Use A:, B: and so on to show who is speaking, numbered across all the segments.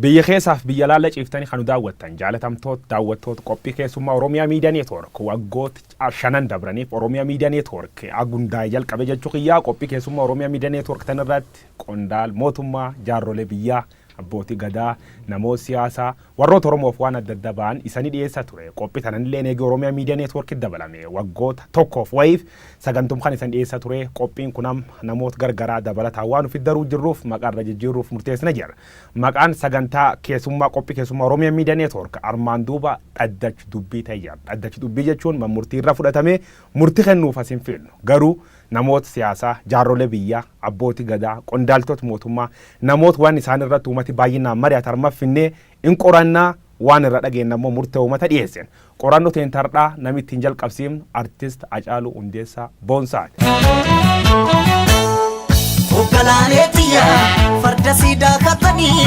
A: Biyya keessaaf biyya alaalla ciiftanii kan nu daawwattan jaalatamtoot daawwattoot qophii keessummaa Oromiyaa Miidiyaa Neetwoork waggoot shanan dabraniif Oromiyaa Miidiyaa Neetwoork agundaa'e jalqabe jechuu kiyyaa qophii keessummaa Oromiyaa Miidiyaa Neetwoork tanirratti qondaal mootummaa jaarrolee biyyaa abbootii gadaa namoot siyaasaa Warroota Oromoof waan adda adda ba'an isani dhiyeessa ture. Qophi tananilleen eegi Oromia Media Network dabalame waggoota tokkoof wayiif sagantum kan isan dhiyeessa ture. Qophiin kun amma namoot gar garaa dabalataan waan ufit daruu jirruuf maqaa irra jijjiirruuf murteessine jirra. Maqaan sagantaa keessummaa qophi keessummaa Oromia Media Network armaan duuba Dhaddach Dubbii ta'e jira. Dhaddach Dubbii jechuun man murtii irra fudhatamee murti kennuuf asin fiilnu. Garuu namoot siyaasaa, jaarrolee biyyaa, abbooti gadaa, qondaaltot mootummaa, namoot waan isaan irratt uumati baayyinnaan mari'at armaf finnee in qoranna, waan irra dhageenna immoo murtee uumata dhiyeessin. Qoranno teen tardhaa nami ittiin jalqabsiifn Artist Acaaluu Hundeessaa Boonsaa ti.
B: Oggalaanee tiyya farda siidaa kattanii.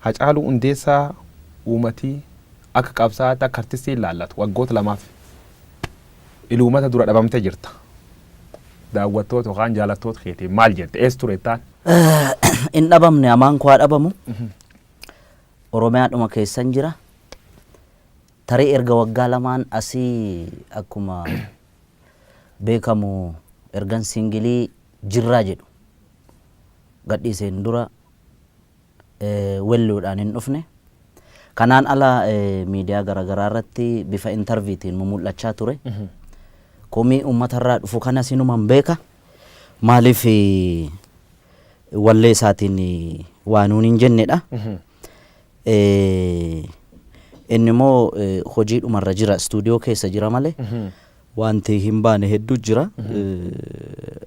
B: Hacaaluu
A: Hundeessaa uumati akka qabsaa'aatti akka artistii hin laallatu. Waggoota lamaaf il uummata dura dhabamtee jirta. Daawwattoota yookaan jaalattoota keetiin maal jetta? Eessa turettaan? Hin
C: dhabamne amaan koo haa dhabamu. Oromiyaadhuma keessan jira. Tarii erga waggaa lamaan asii akkuma beekamu ergan singilii jirraa jedhu gadhiiseen dura welluudhaan hin dhufne. Kanaan ala miidiyaa garaagaraa irratti bifa intarviitiin mumul'achaa ture. Komii uummatarraa dhufu kanas inuman beeka. Maaliif wallee isaatiin waa nuun hin jennedha. Inni immoo hojiidhumarra jira istuudiyoo keessa jira malee Waanti hin baane hedduu jira.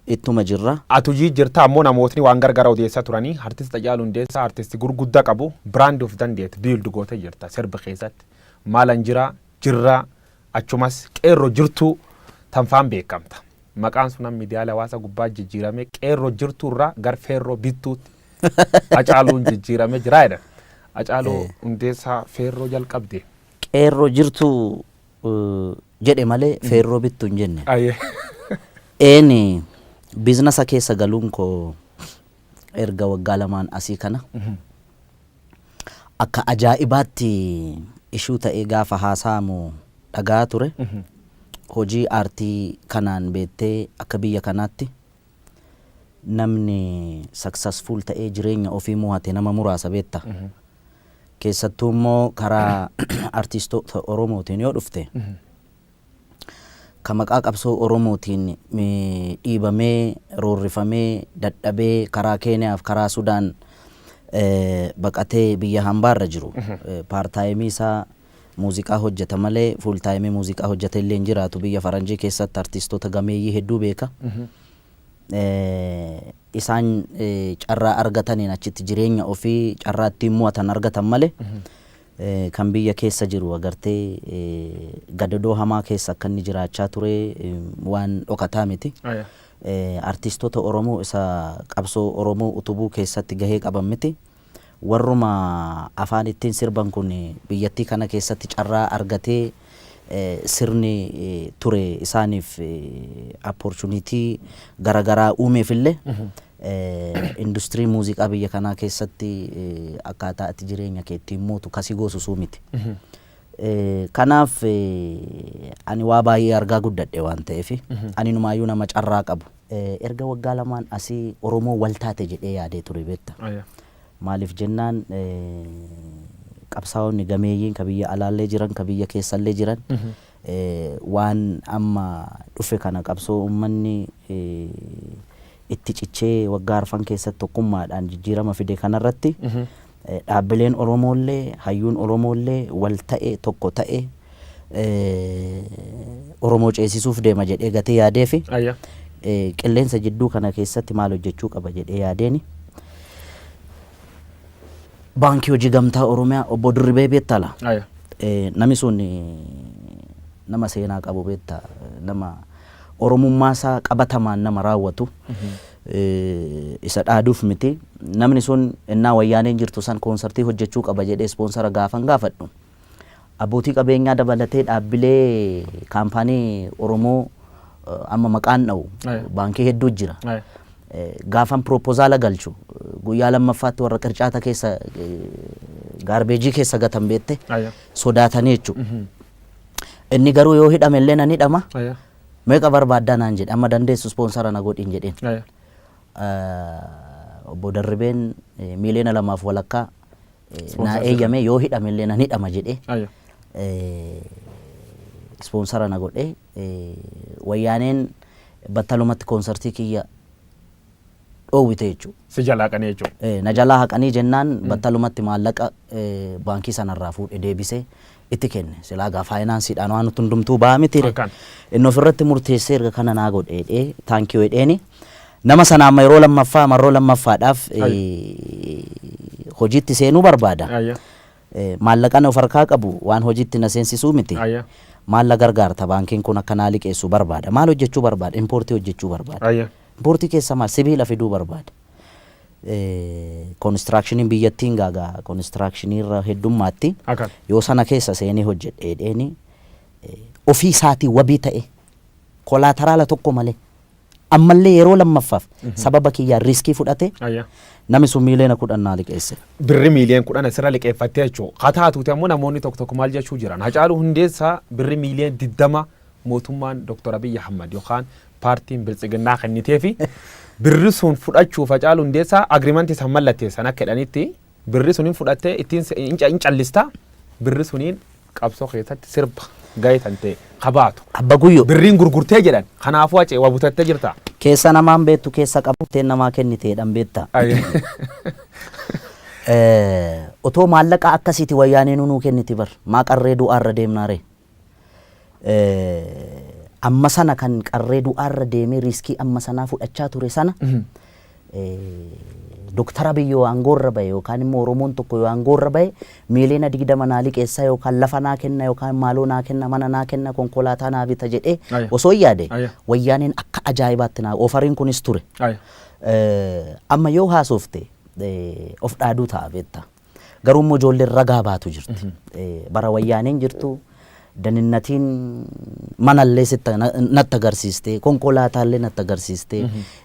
C: Ittuma jirra. Atu jijjirta ammo
A: namootni waan gargara odeessa turani artist Hacaalu Hundeessa artist gurgudda qabu brand of dandeet build goote jirta sirb keessatti maalan jira jirra achumas qeerro jirtu tan faan beekamta maqaan sun am midiyaale hawaasa gubbaa jijjirame qeerro jirtu irra gar feerro bittuutti Hacaaluun jijjirame jira jedhan Hacaalu Hundeessa feerro jalqabde qeerro jirtu
C: jedhe malee feerroo bittu hin jenne. Aye. Een biiznasa keessa galuun koo erga waggaa lamaan asii kana akka ajaa'ibaatti ishuu ta'ee gaafa haasa'amu dhaga'aa ture. Hojii aartii kanaan beettee akka biyya kanaatti Namni successful ta'ee jireenya ofii mo'ate nama muraasa beekta. Keessattuu immoo karaa artistoota Oromootiin yoo dhufte ka maqaa qabsoo Oromootiin mi- dhiibamee, roorrifamee, dadhabee karaa Keeniyaaf karaa Sudaan eh, baqatee biyya hambaarra jiru eh, paartaayimii isaa Muuziqaa hojjeta malee full time muuziqaa hojjete illee hin jiraatu. Biyya faranjii keessatti artiistota gameeyyii hedduu beeka. Eh, Isaan eh, carraa argataniin achitti jireenya ofii carraa ittiin mo'atan argatan malee eh, kan biyya keessa jiru agartee eh, gadadoo hamaa keessa akka inni jiraachaa ture eh, waan dhokataa miti. Aya. Eh, Artiistota Oromoo isa qabsoo Oromoo utubuu keessatti gahee qaban miti. warruma afaan ittin sirban kun biyyattii kana keessatti carraa argatee sirni ture isaaniif opportunity garagaraa uumeef illee industirii muuziqaa biyya kanaa keessatti akkaataa ati jireenya kee ittiin mootu kasi goosu suu miti. Kanaaf ani waa baay'ee argaa guddadhe waan ta'eef ani numaayyuu nama carraa qabu. Erga waggaa lamaan asi Oromoo wal taate jedhee yaadee ture beekta. Maaliif jennaan qabsaa'onni gameeyyiin ka biyya alaallee jiran ka biyya keessallee jiran waan amma dhufe kana qabsoo ummanni itti cichee waggaa arfan keessatti tokkummaadhaan jijjiirama fide kanarratti Dhaabbileen Oromoollee, hayyuun Oromoollee wal ta'e, tokko ta'e Oromoo ceesisuuf deema jedhee gatee yaadee fi Ayya. qilleensa jidduu kana keessatti maal hojjechuu qaba jedhee yaadeeni. Baankii Hojii Gamtaa Oromiyaa obbo Dirribee beektaa laa? Ayya. Eh, nami sun eh, nama seenaa qabu beekta nama Oromummaa isaa qabatamaan nama raawwatu isa dhaaduuf miti. Namni sun ennaa wayyaaneen jirtu san koonsartii hojjechuu qaba jedhee ispoonsara gaafan gaafadhu. Abbootii qabeenyaa dabalatee dhaabbilee kaampaanii Oromoo eh, amma maqaan dha'u Aye. baankii hedduu jira. Aye. Eh, Gaafan piroopozaala galchu guyyaa lammaffaatti warra qircaata keessa eh, gaarbeejii keessa gatan beette Aye. sodaatanii jechuudha. Inni garuu yoo hidhame illee nan hidhama. Aya. Meeqa barbaaddaa naan jedhe amma dandeessu ispoonsara na godhiin jedheen. Aya. Eh, Obbo Darribeen eh, miiliyoona lamaaf walakkaa eh, naa Ispoonsara jedhame. eeyyame yoo hidhame illee nan hidhama jedhee. Aya. eh, ispoonsara na godhe eh, wayyaaneen battalumatti koonsartii kiyya dhoowwite jechuudha. Si jalaa haqanii jechuudha.
A: Ee, na jalaa haqanii jennaan
C: battalumatti maallaqa ee, baankii sanarraa fuudhe deebisee itti kenne. Silaa gaa faayinaansiidhaan waan nutti hundumtuu ba'a mitiire. Akkan. Inni ofirratti murteessee erga kana naa godhe jedhee taankii jedheeni. Nama sana amma yeroo lammaffaa marroo lammaffaadhaaf ee, hojiitti seenuu barbaada. Ayya. Eh, maallaqan of harkaa qabu waan hojiitti na seensisuu miti. Ayya. Maal na gargaarta baankiin kun akka naa liqeessu barbaada. Maal hojjechuu barbaada? Impoortii hojjechuu barbaada. Ayya. Importii keessaa maal sibiila fiduu barbaada. Konistiraakshiiniin biyyattiin gaa gaa konistiraakshiinii irra heddummaatti. Akan. Yoo sana keessa seenee hojjedhe jedheeni ofii isaatii wabii ta'e kolaataraala tokko malee ammallee yeroo lammaffaaf sababa kiyyaan riiskii fudhate Ayya. nami sun miiliyoona kudhan naa liqeesse. Birri miiliyoon kudhan
A: asirra liqeeffattee jechuudha. Haa taatuuti ammoo namoonni tokko tokko maal jechuu jiran. Hacaaluu Hundeessaa birri miiliyoon digdama mootummaan Dr. Abiy Ahmad yookaan paartiin Biltsiginnaa kenniteefi birri sun fudhachuuf Hacaaluu Hundeessaa agreement san mallatteessan akka jedhanitti birri sun hin fudhattee ittiin se- hin ca- hin callista birri suniin qabsoo keessatti sirba gahee tante kabaatu Abba Guyyoo. birriin
C: gurgurtee jedhan
A: kanaafuu hacee waa butattee jirta. Keessa namaan beektu
C: keessa qabattee namaa kenniteedhaan beekta. Eh, Otoo maallaqa akkasiiti wayyaanee nuu kenniti bar. Maa qarree du'aarra deemnaaree. amma sana kan qarree du'aarra deemee riiskii amma sanaa fudhachaa ture sana Dooktar Abiy yoo aangoorra bahe yookaan immoo Oromoon tokko yoo aangoorra bahe miiliyoona digdama naa liqeessa yookaan lafa naa kenna yookaan maaloo naa kenna mana naa kenna konkolaataa naa bita jedhee Aya. osoo hin yaade Aya. wayyaaneen akka ajaa'ibaatti naa ofariin kunis ture. Aya. Eh, Amma yoo haasofte eh, of dhaaduu ta'a beektaa. Garuu immoo ijoolleen ragaa baatu jirti. Eh, Bara wayyaaneen jirtu daninnatiin manallee sitta- na- natti agarsiiste, konkolaataallee natti agarsiiste,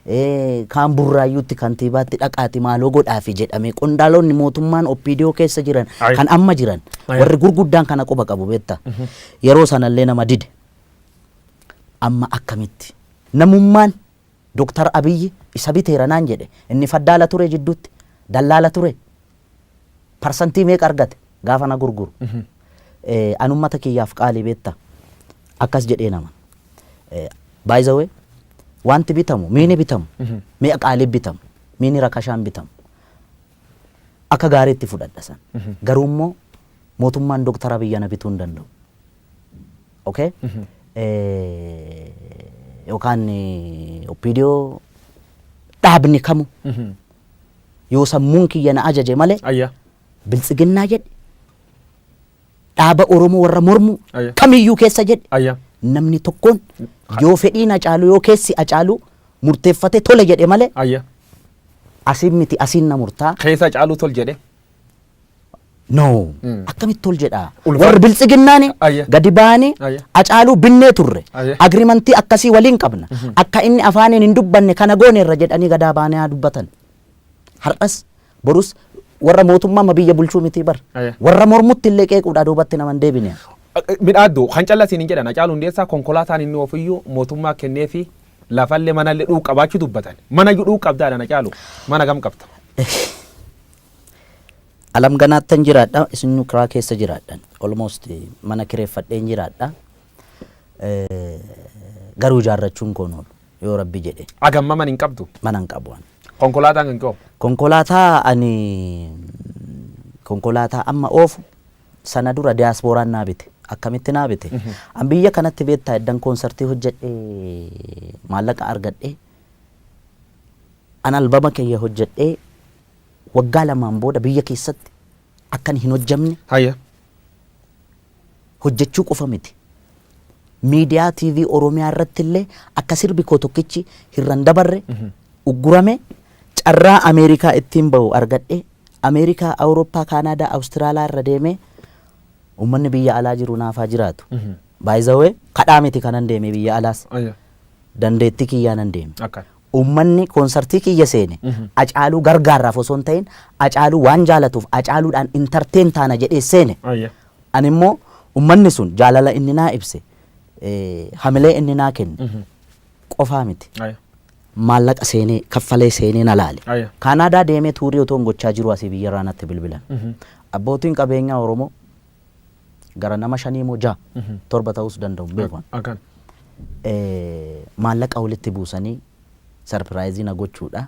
C: eh, kaan burraayyuutti kantiibaatti dhaqaati maaloo godhaafi jedhame qondaalonni mootummaan oppiidiyoo keessa jiran Aye. kan amma jiran Aye. warri gurguddaan kana quba qabu beekta. Yeroo sanallee nama dide. Amma akkamitti? Namummaan Doktar Abiyyi isa biteera naan jedhe inni faddaala ture jidduutti dallaala ture parsantii meeqa argate gaafa na gurguru an ummata kiyyaaf qaalii beetta akkas jedhee nama by the way wanti bitamu miini bitamu mi'a qaalii bitamu miini rakashaan bitamu akka gaariitti fudhadha san garuu immoo mootummaan Doktar Abiyyi ana bituu hin danda'u. Okay? Eh, yookaan eh, oppiidiyoo dhaabni kamu yoo sammuun kiyya na ajaje malee Ayya. biltsiginnaa jedhe dhaaba Oromoo warra mormu Ayya. kamiyyuu keessa jedhe Ayya. namni tokkoon yoo fedhiin acaalu yoo keessi acaalu murteeffate tole jedhe malee Ayya.
A: asiin
C: miti asiin
A: na murtaa
C: Keessa caaluu tol
A: jedhe.
C: No. Akkamitti ol jedhaa? Ulfa- Warri biltsiginnaani Ayya. gadi ba'anii
A: Ayya.
C: acaaluu
A: binnee turre.
C: Ayya. Agrimantii
A: akkasii
C: waliin qabna. Akka inni afaaniin hin dubbanne kana goone irra jedhanii gadaa baanee haa dubbatan. Har'as borus warra mootummaa amma biyya bulchuu miti bar. Ayya. Warra mormutti
A: illee
C: qeequudhaa duubatti nama hin deebine. Midhaaddu
A: kan callasiin hin jedhan Hacaaluu Hundeessaa konkolaataan inni ofiyyuu mootummaa kennee fi lafallee manallee dhuuf qabaachuu dubbatan. Mana iyyuu dhuuf qabdaadhaan Hacaaluu mana gam qabda.
C: Alam ganaattan jiraadha isinnu kiraa keessa jiraadhan almost mana kireeffadheen jiraadha garuu ijaarrachuun koon oolu yoo rabbi jedhe Agamma man hin qabdu.
A: mana hin qabu ani.
C: Konkolaataan kan koo.
A: Konkolaataa ani
C: konkolaataa amma oofu sana dura diyaaspooraan naa bite akkamitti naa bite an biyya kanatti beektaa eddan koonsartii hojjedhe maallaqa argadhe an albama kiyya hojjedhe waggaa lamaan booda biyya keessatti akkan hin hojjamne Haya. hojjechuu qofa miti. Miidiyaa TV Oromiyaa irratti illee akka sirbi koo tokkichi hirran dabarre uggurame carraa Ameerikaa ittiin bahu argadhe Ameerikaa, Awurooppaa, Kaanaadaa, Awustiraalaa irra deemee uummanni biyya alaa jiru naaf haa jiraatu. Baay'izawee kadhaa miti kanan deemee biyya alaas Haya.
A: dandeettii
C: kiyyaanan deeme. Akka. Uummanni
A: konsartii
C: kiyya seene Acaaluu gargaarraaf osoo hin ta'iin Acaaluu waan jaalatuuf Acaaluudhaan entertain taana jedhee seene. Ayya. Ani immoo uummanni sun jaalala inni naa ibse, hamilee inni naa kenne qofaa miti. Ayya.
A: Maallaqa
C: seenee kaffalee seenee na laale. Ayya. Kaanaadaa deemee
A: tuurii
C: otoon gochaa jiruu asii biyyarraa natti bilbilan. Abbootiin qabeenyaa Oromoo gara nama shanii moo jaha torba ta'uus danda'u hin beeku ani. Akan.
A: Eh, maallaqa
C: walitti buusanii sarpiraayizii na gochuudha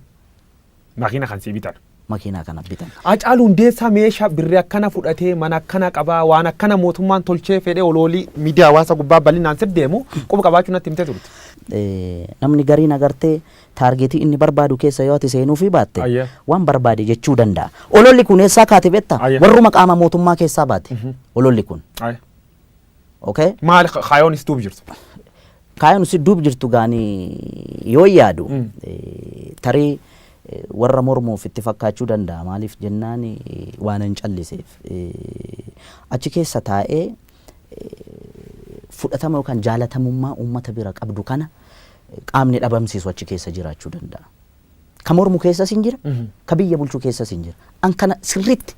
C: Makiina
A: kan sii bitan. makiinaa kana bitan.
C: Hacaalu Hundeessaa
A: meeshaa birri akkana fudhatee mana akkana qabaa waan akkana mootummaan tolchee fedhee oloolii miidiyaa hawaasa gubbaa bal'inaan sif deemu quba qabaachuu natti himtee turte. Eh, namni
C: gariin agartee Taargeetii inni barbaadu keessa yoo ati seenuufii baatte, Ayyee. waan barbaade
A: jechuu
C: danda'a. Ololli kun eessaa kaate beektaa? Ayyee. Warruma qaama mootummaa keessaa baate. Ololli kun. Aye.
A: Okay?
C: Maali ka- kaayoon
A: is duub jirtu? Kaayoon
C: si duub jirtu gaanii yoo yaadu eh, tarii eh, warra mormuuf itti fakkaachuu danda'a. Maaliif jennaan eh, waan hin calliseef. Eh, Achi keessa taa'ee fudhatama yookaan jaalatamummaa uummata bira qabdu kana qaamni dhabamsiisu achi keessa jiraachuu danda'a. Ka mormu keessas hin jira, ka biyya bulchu keessas hin jira. An kana sirriitti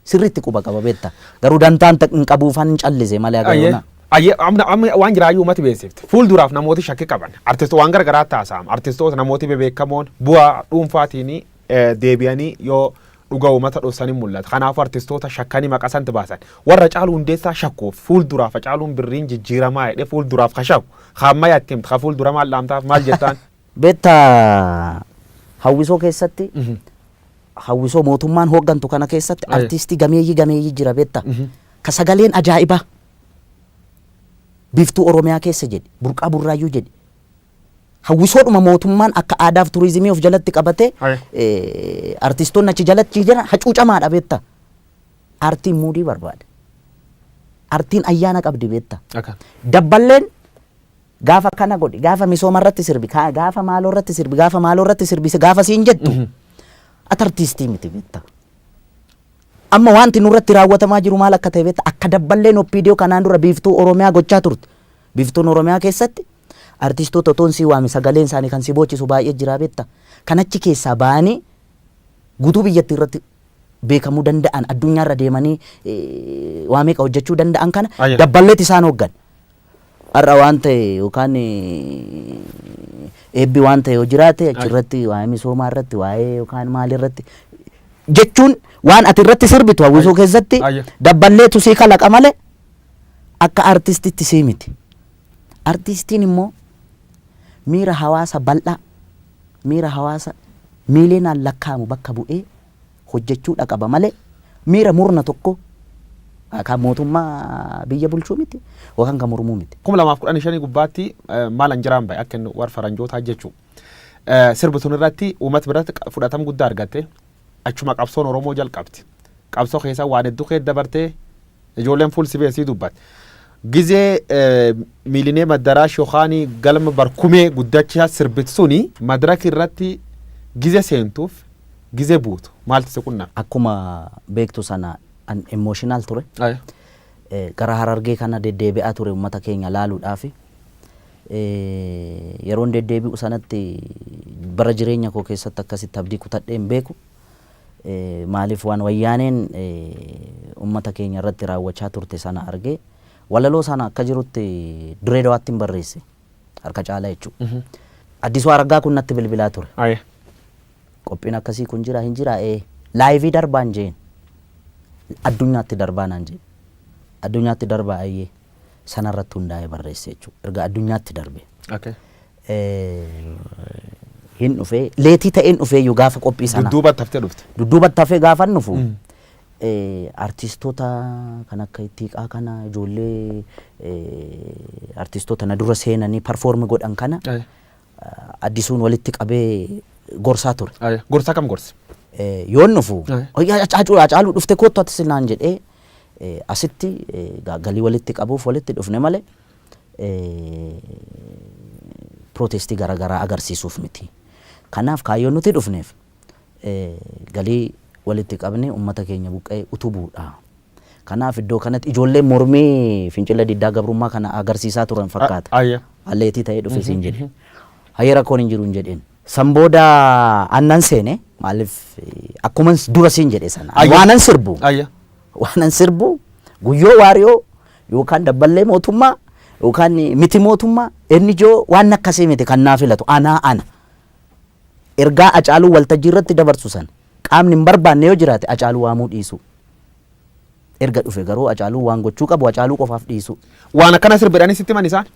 C: sirriitti quba qaba beekta. Garuu dantaan hin qabuufan hin callise malee Ayyee. agayoona. Ayyee. Amma amma
A: waan jiraayyuu uummati beeksifte. Fuulduraaf namooti shakki qaban. Artisto waan gara garaa taasa'am. Artistoota namooti bebeekamoon bu'aa dhuunfaatiin eh, deebi'anii yoo Dhuga umata dhossan hin mullata kanafu artistoota shakkani maqa sant baasan warra hacaalu hundeessaa shakkuf fuul duraaf hacaaluun birriin jijjiramaa jedhe fuul duraaf ka shakku ka ammaya itti himta ka fuul dura maal dhaamtaaf maal jettaan. Beekta
C: hawwisoo keessatti hawwisoo mootummaan hooggantu kana keessatti Aye. artiistii gameeyyii gameeyyii jira beekta ka sagaleen ajaa'ibaa biiftuu oromiyaa keessa jedhi burqaa burraayyuu jedhi Hawwisoodhuma mootummaan akka aadaaf turizimii of jalatti qabatee Haya. eh, artistoonni achi jalatti jiran hacuucamaadha beekta. Artiin muudii barbaada. Artiin ayyaana qabdi beekta. Akka. Dabballeen gaafa kana godhi gaafa misooma irratti sirbi kaa- gaafa maaloo irratti sirbi gaafa maaloo irratti sirbi si- gaafa siin jettu ati artiistii miti beekta. Amma wanti nurratti raawwatamaa jiru maal akka ta'e beekta akka dabballeen oppiidiyoo kanaan dura biiftuu Oromiyaa gochaa turte. Biftuun Oromiyaa keessatti artistoota otoon si waame sagaleen isaanii kan si boochisu baay'ee jira beekta. Kan achi keessaa ba'anii guutuu biyyattii irratti beekamuu danda'an addunyaa irra deemanii waa meeqa hojjechuu danda'an kana Ayya. dabballeetti isaan hooggan. Har'a waan ta'e yookaan eebbi waan ta'e yoo jiraate achirratti waa'ee misoomaa irratti waa'ee yookaan maal irratti jechuun waan ati irratti sirbitu hawwisoo keessatti Ayya. dabballeetu sii kalaqa malee akka artistitti sii miti. Artistiin immoo miira hawaasa bal'aa, miira hawaasa miiliyoonaan lakkaa'amu bakka bu'ee hojjechuudha qaba malee miira murna tokkoo kan mootummaa biyya bulchuu miti yookaan kan mormuu miti. 2015 gubbaatti
A: maalan jiraan bahe akka inni war faranjootaa jechuu sirbi sun irratti uumat biratti fudhatam guddaa argatte. Achuma qabsoon Oromoo jalqabte. Qabsoo keessa waan hedduu keessa dabartee ijoolleen fuul si beeksii dubbatti. Gizee miilinee maddaraa shokaanii galma barkumee guddachaa sirbit suni madraki irratti gize seentuuf gize buutu maaltu si
C: qunname?
A: Akkuma beektu
C: sana
A: an
C: emotional ture.
A: Gara
C: harargee kana deddeebi'aa ture uummata keenya laaluudhaafi. Yeroon deddeebi'u sanatti bara jireenya koo keessatti akkasitti abdii kutadhee hin beeku. Maaliif waan wayyaaneen ummata keenya irratti raawwachaa turte sana argee walaloo sana akka jirutti Dirree Dawaattin barreesse. Harka caalaa jechuudha. Addisuu Araggaa kun natti bilbilaa ture. Aye.
A: Qophiin
C: akkasii kun jira hin jira ee laayivii darbaan jeen. Addunyaatti darbaa naan jeen. Addunyaatti darbaa ayyee. sana irratti hundaa'ee barreesse jechuudha. Erga addunyaatti darbe. Okay. Hin dhufee leetii ta'een dhufee iyyuu gaafa qophii sana. Dudduubatti haftee dhufte.
A: Dudduubatti hafee gaafa hin
C: dhufu. Artistoota kan akka ittiiqaa kana ijoollee artistoota na dura seenanii parfoormi godhan kana Aye. addisuun walitti qabee gorsaa ture. Aye. Gorsaa kam gorsi?
A: Yoon dhufu
C: Aye. hacaacuu hacaacuu dhufte koottu ati sinaan jedhee Asitti egaa galii walitti qabuuf walitti dhufne malee pirootestii gara garaa agarsiisuuf miti. Kanaaf kaayyoon nuti dhufneef galii walitti qabnee uummata keenya buqqa'e utubuudha. Kanaaf iddoo kanatti ijoolleen mormii fincila diddaa gabrummaa kana agarsiisaa turan fakkaata. Aleetii ta'ee dhufe siin jedhe. Hayyee rakkoon hin jiru hin jedheen. San booda annan seene maaliif akkuman dura siin jedhe sana Ayya. waanan sirbu Ayya. waanan sirbu guyyoo waariyoo yookaan dabballee mootummaa yookaan miti mootummaa inni ijoo waan akkasii miti kan naa filatu anaa ana ergaa acaaluu waltajjii irratti dabarsu sana qaamni hin barbaanne yoo jiraate acaaluu waamuu dhiisuu Erga dhufe garuu Hacaaluun waan gochuu qabu Hacaaluu qofaaf dhiisuu. Waan akkana sirba jedhanii
A: sitti himan isaan?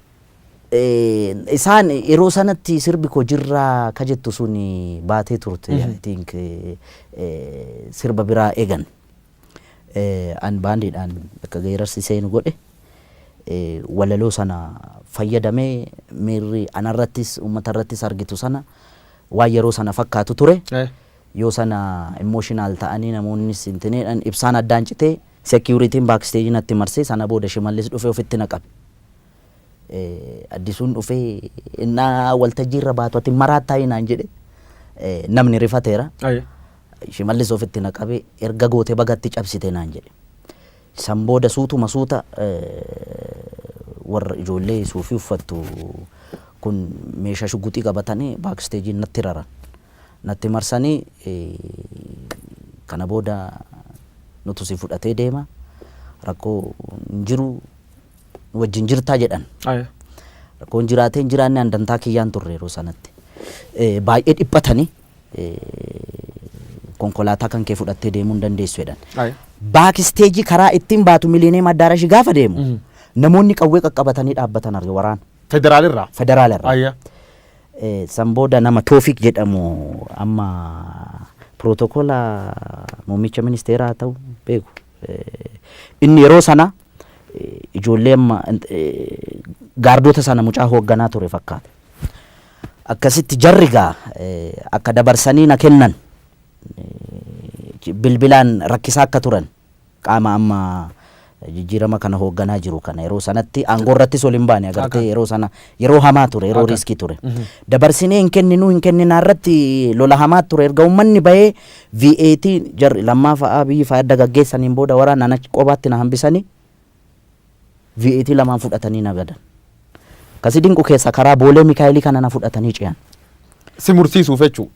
C: Isaan yeroo sanatti sirbi koo jirraa ka jettu sun baatee turte. I think sirba biraa eegan. An baandiidhaan akka geerarsi seenu godhe walaloo sana fayyadamee miirri anarrattis uummatarrattis argitu sana waan yeroo sana fakkaatu ture. Yoo sana emotional ta'anii namoonnis intineedhan ibsaan addaan citee security'n back stage natti marsee sana booda Shimallis dhufee ofitti na qabe. Addisuun dhufee innaa waltajjii irra baatu ati maraattaayii naan jedhe namni rifateera. Aye. Shimallis ofitti na qabe erga goote baga itti cabsite naan jedhe. San booda suutuma suuta warra ijoollee suufii uffattu kun meeshaa shugguxii qabatanii back stage'n natti raran. natti marsanii kana booda nutu si fudhatee deema rakkoo hin jiru nu wajjin jirtaa jedhan. Aya. Rakkoon jiraatee hin jiraanne an dantaa kiyyaan turre yeroo sanatti. Eh, Baay'ee dhiphatanii eh, konkolaataa kan kee fudhattee deemuu hin dandeessu jedhan. Aya. Baakisteejii karaa ittiin baatu miliineem addaarashi gaafa deemu namoonni qawwee qaqqabatanii dhaabbatan arge waraana Federaalirraa. federaala
A: irraa. Aya.
C: San booda nama Toofiq jedhamu amma pirootokola muummicha ministeeraa haa ta'u beeku. Inni yeroo sana ijoollee amma gaardota sana mucaa hoogganaa ture fakkaata. Akkasitti jarri gaa akka dabarsanii na kennan bilbilaan rakkisaa akka turan Qaama amma jijjiirama kana hoogganaa jiru kana yeroo sanatti aangoo irrattis ol hin baane agartee yeroo sana yeroo hamaa ture yeroo riiskii ture. Dabarsinee hin kenninuu hin kenninaa irratti lola hamaa ture erga uummanni bahee VAT jarri lammaa fa'aa biyyi fa'aa erga gaggeessaniin booda waraanaan achi qobaatti na hambisanii VAT lamaan fudhatanii na gadan. Ka si dinqu keessa karaa Boolee Mikaa'elii kana na fudhatanii ce'an. Si mursiisuuf
A: jechuu.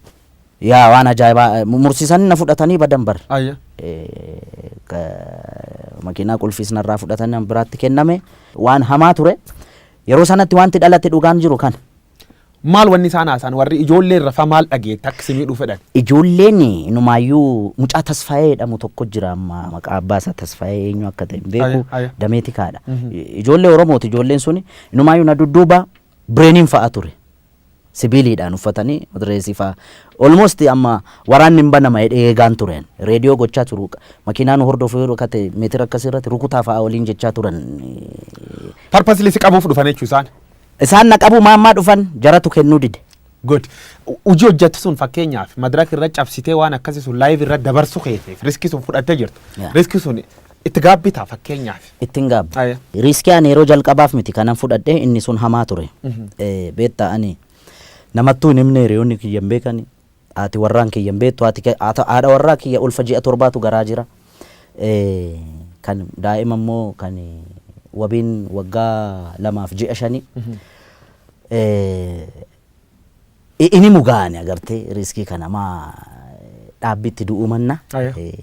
A: Yaa waan
C: ajaa'ibaa eh, mu- mursiisanii na fudhatanii badan bar. Ayya. Eh, ka- makiinaa qulfiis narraa fudhatanii an biraatti kenname waan hamaa ture. Yeroo sanatti wanti dhalate dhugaan jiru kana. Maal wanni
A: isaan haasaan warri ijoollee irra fa maal dhageette akka si miidhuu fedhan? Ijoolleen inumaayyuu
C: mucaa Tasfaayee jedhamu tokko jira amma maqaa abbaa isaa Tasfaayee eenyu akka ta'e hin beeku Aya, aya. damee tikaadha. Ijoollee Oromooti ijoolleen suni inumaayyuu na dudduuba bireeniin fa'a ture. Sibiiliidhaan uffatanii madireesii fa'a. Olmost amma waraanni hin banama jedhee eegaan tureen. Reediyoo gochaa turu. Makiinaan hordofuu yeroo kate meetira akkasii irratti rukutaa fa'a waliin jechaa turan.
A: Purposely si qabuuf dhufan jechuu isaan. Isaan na qabuu
C: maammaa dhufan jaratu kennuu dide. Good. Hojii
A: hojjattu sun fakkeenyaaf madraka irra cabsitee waan akkasii sun live irra dabarsu keetiif riskii sun fudhattee jirtu. Yeah. Riskii sun itti gaabbitaa fakkeenyaaf. Ittiin gaabbe. Aye.
C: Riiskii ani yeroo jalqabaaf miti kanan fudhadhe inni sun hamaa ture. Eh, Beektaa ani namattuu hin himne hiriyoonni kiyya hin beekani. Haati warraan kiyya hin beektu. Haati ke- haata- haadha warraa kiyya ulfa ji'a torbaatu garaa jira. Eh, Kan daa'ima immoo kan wabiin waggaa lamaaf ji'a shanii. Eh, i- ini mugaani agartee riiskii kana maa dhaabbiitti du'uu manna. Aya. Eh,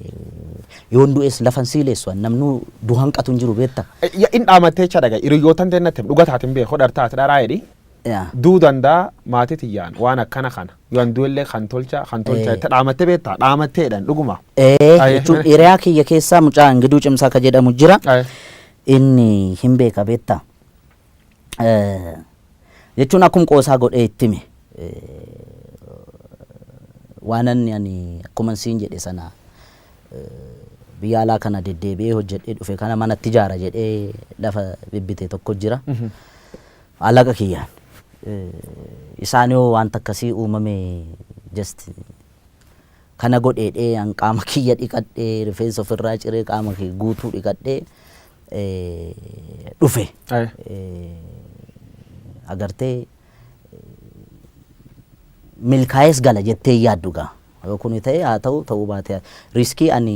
C: Yoon du'es lafan siileessu an namnuu du hanqatu hin jiru beekta. Ya in dhaamattee cha
A: dhaga hiriyyootan teennatti dhuga taatin beeku dhartaati dharaa jedhi. Yaa. Duu danda'a maatii tiyyaan waan akkana kana yoo an du'ellee kan tolcha kan tolcha Ee. jette dhaamattee beektaa dhaamatteedhaan dhuguma. Ee Aye. jechuun
C: hiriyaa kiyya keessaa mucaa Ingiduu Cimsaa ka jedhamu jira. Aye. Inni hin beeka beektaa. Eh, Jechuun akkuma qoosaa godhee itti hime. Waan inni ani akkuma siin jedhe sana eh, biyya alaa kana deddeebi'ee hojjedhee dhufe kana manatti ijaara jedhee lafa bibbite tokko jira. Alaqa kiyyaan. Isaan yoo wanta akkasii uumame just kana godheedhee an qaama kiyya dhiqadhee rifeensa ofirraa ciree qaama kiyya guutuu dhiqadhee dhufe. Agartee milkaa'ees gala jettee yaaddu gaa. Yoo kuni ta'e haa ta'u ta'uu baatee riskii ani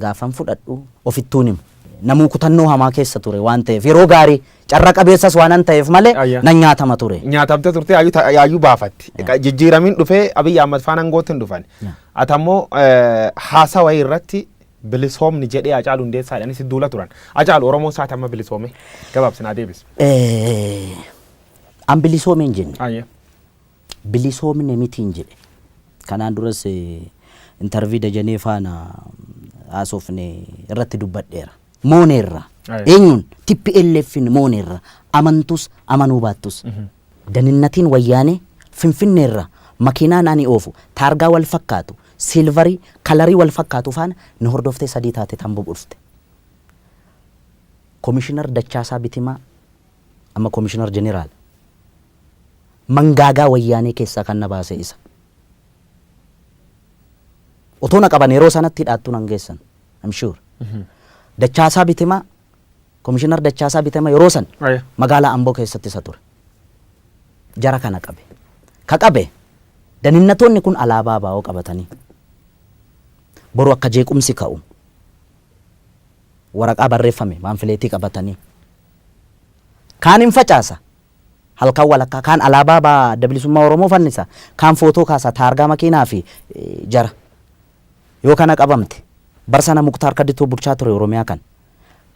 C: gaafan fudhadhu ofittuun himu. Namuu kutannoo hamaa keessa ture waan ta'eef yeroo gaarii carra qabeessas waanan ta'eef malee Ayya. nan nyaatama ture. nyaatamte turte yaayyuu ta-
A: yaayyuu baafatti Qa- jijjiiramiin dhufee abiyyi ahmad faan angootti hin dhufan Yeah. ati ammoo eh, haasaa wayii irratti bilisoomni jedhee acaalu hundeessaa jedhanii si duula turan acaalu oromoo isaati amma bilisoome gabaabsinaa deebis Eh,
C: An bilisoomee hin jenne. Ayya. bilisoomne mitiin jedhe. Kanaan duras intervii Dajanee faana haasofne irratti dubbadheera. Mooneerra. Aye. Eenyuun? TPLFn mooneerra. Amantus amanuu baattus. Daninnatiin wayyaanee Finfinneerra makiinaan ani oofu taargaa wal fakkaatu, siilvarii, kalarii wal fakkaatu faana na hordoftee sadii taate tan bubu'fte. Komishinar Dachaasaa Bitimaa. Amma Komishinar Jeneraal mangaagaa wayyaanee keessaa kan na baase isa. Otoo na qaban yeroo sanatti hidhaattuu nan geessan. I'm sure. Dachaasaa Bitimaa, Komishinar Dachaasaa Bitimaa yeroo san Aya. magaalaa Amboo keessatti isa ture. Jara kana qabe. Ka qabe daninnatoonni kun alaabaa baa'oo qabatanii boru akka jeequmsi ka'u waraqaa barreeffame paamfileetii qabatanii kaan in facaasa halkan walakkaa kaan alaabaa ba adda bilisummaa oromoo fannisa kaan footoo kaasa taargaa makiinaa fi jara yoo kana qabamte bar sana muktaar kaditoo bulchaa ture oromiyaa kan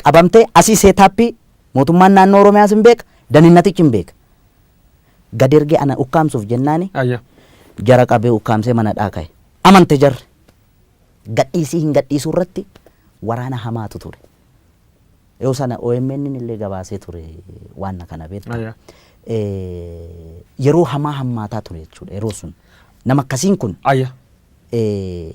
C: qabamte asii seetaappii mootummaan naannoo oromiyaas hin beeka daninnatichi hin beeka gad ergee ana ukkaamsuuf jennaani Ayya. jara qabee ukkaamsee mana dhaa ka'e amante jarri gadhiisii hin gadhiisuu irratti waraana hamaatu ture. Yoo sana OMN illee gabaasee ture waan kana beekta. Aya. Eh, Yeroo hamaa hammaataa ture jechuudha yeroo sun. Nama akkasiin kun Aya. eh,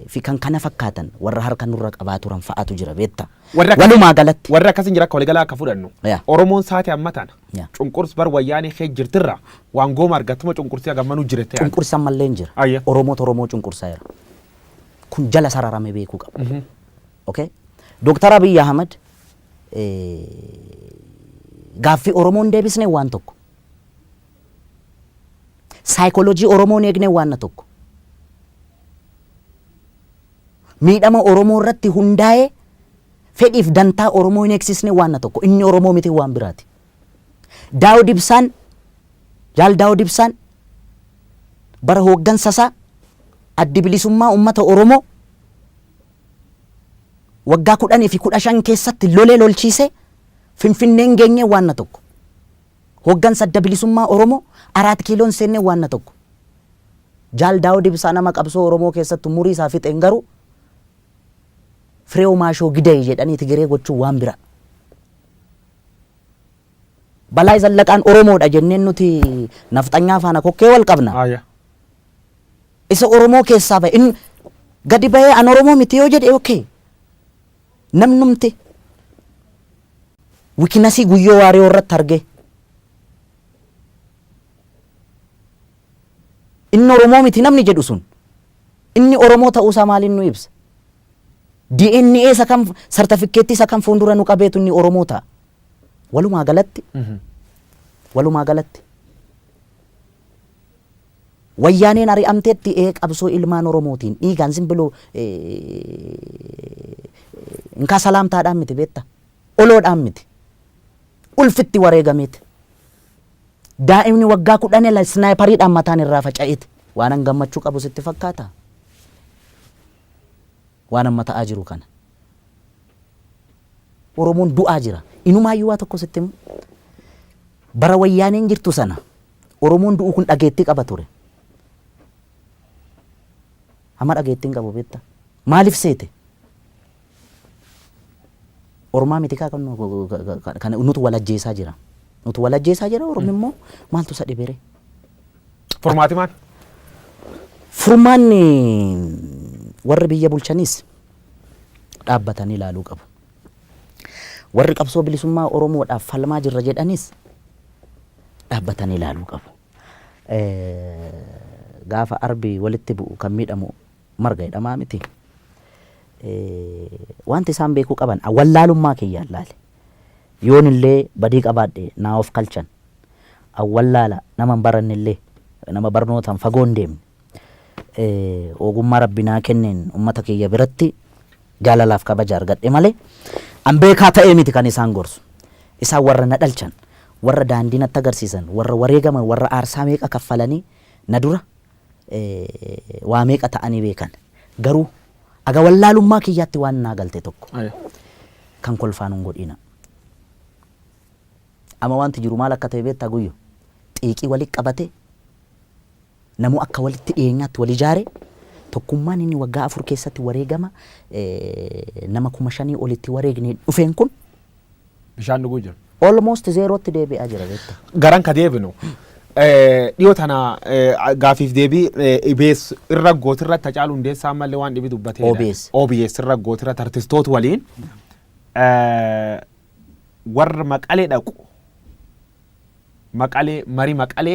C: fi kan kana fakkaatan warra harka nurra qabaa turan fa'aatu jira beekta. Warra akkasii- Walumaa galatti. Warra akkasiin jira akka waliigalaa akka
A: fudhannu. Yaa. Oromoon saati amma tana. Yaa. Cunqurs bar wayyaanee kee jirtirra waan gooma argattuma cunqursii hagammanuu jirte. Cunqursa mallee hin jira.
C: Ayya. Oromoota Oromoo cunqursaa jira. kun jala sararame beekuu qaba. Okay? Dooktar Abiy Ahmad gaaffii Oromoo hin deebisne waan tokko. Saayikooloojii Oromoo hin eegne waan tokko. Miidhama Oromoo irratti hundaa'ee fedhiif dantaa Oromoo hin eegsisne waan tokko. Inni Oromoo miti waan biraati. Daawud Ibsaan, Jaal Daawud Ibsaan bara hooggansa isaa Addi Bilisummaa Uummata Oromoo waggaa 10 fi 15 keessatti lolee lolchiisee Finfinneen geenyee waanna tokko. Hooggansa Adda Bilisummaa Oromoo Araat Kiiloon seennee waanna tokko. Jaal Daawud Ibsaa nama qabsoo Oromoo keessatti umurii isaa fixeen garuu Fireew Maashoo Gidee jedhanii Tigiree gochuun waan biraa. Balaay Zallaqaan Oromoodha jenneen nuti nafxanyaa faana kokkee wal qabna? Aya. Isa Oromoo keessaa ba'e in gadi ba'ee an Oromoo miti yoo jedhe okay. Namnumti wikinasii guyyoo waariyoo irratti argee inni Oromoo miti namni jedhu sun inni Oromoo ta'uusaa maaliin nu ibsa? DNA isa kan sartafikkeetti isa kan fuundura nu qabeetu inni Oromoo ta'a. Walumaa galatti walumaa galatti wayyaaneen ari'amteetti ee qabsoo ilmaan Oromootiin dhiigaan simbiloo inkaa salaamtaadhaan miti beetta oloodhaan miti ulfitti wareegameeti. Daa'imni waggaa kudhan ila isnaayipariidhaan mataan irraa faca'eeti. Waanan gammachuu qabu sitti fakkaata. waan amma ta'aa jiru kana. Oromoon du'aa jira. Inumaayyuu waa tokko sitti hima. Bara Wayyaaneen jirtu sana Oromoon du'u kun dhageettii qaba ture. Amma dhageettii hin qabu beektaa? Maaliif seete? Ormaa miti kaa kan nu- kan nutu wal ajjeesaa jira. Nutu wal ajjeesaa jira Oromni immoo maaltu isa dhiberee?
A: Furmaati maal? Furmaanni
C: warri biyya bulchaniis dhaabbatanii ilaaluu qabu. Warri qabsoo bilisummaa Oromoodhaaf falmaa jirra jedhanis dhaabbatanii ilaaluu qabu. Gaafa arbi walitti bu'u kan miidhamu marga jedhamaa miti. Wanti isaan beekuu qaban wallaalummaa kiyyaan laale. Yoon illee badii qabaadhe naa of kalchan an wallaala, nama hin baranne illee, nama barnootaan fagoo hin deemne, ogummaa Rabbi naa kenneen ummata kiyya biratti jaalalaaf kabaja argadhe malee, an beekaa ta'ee miti kan isaan gorsu. Isaan warra na dhalchan, warra daandii natti agarsiisan, warra wareegaman, warra aarsaa meeqa kaffalanii na dura waa meeqa ta'anii beekan. Garuu aga wallaalummaa kiyyaatti waan naa galte tokko, kan kolfaa nun godhiinaa. Ama wanti jiru maal akka ta'e beektaa Guyyo? Xiiqii wali qabate, namuu akka walitti dhiyeenyaatti wal ijaare, tokkummaan inni waggaa afur keessatti wareegama nama kuma shanii ol itti wareegneen dhufeen kun, Bishaan
A: dhuguu jira. almost zeerootti
C: deebi'aa jira beektaa. Garan ka deebinu.
A: Dhiyoo tana gaafiif deebii IBS irra gooti irratti Hacaaluu Hundeessaa ammallee waan dhibi dubbatee. OBS. OBS irra gooti irratti artistoota waliin warra maqale dhaqu maqale mari maqale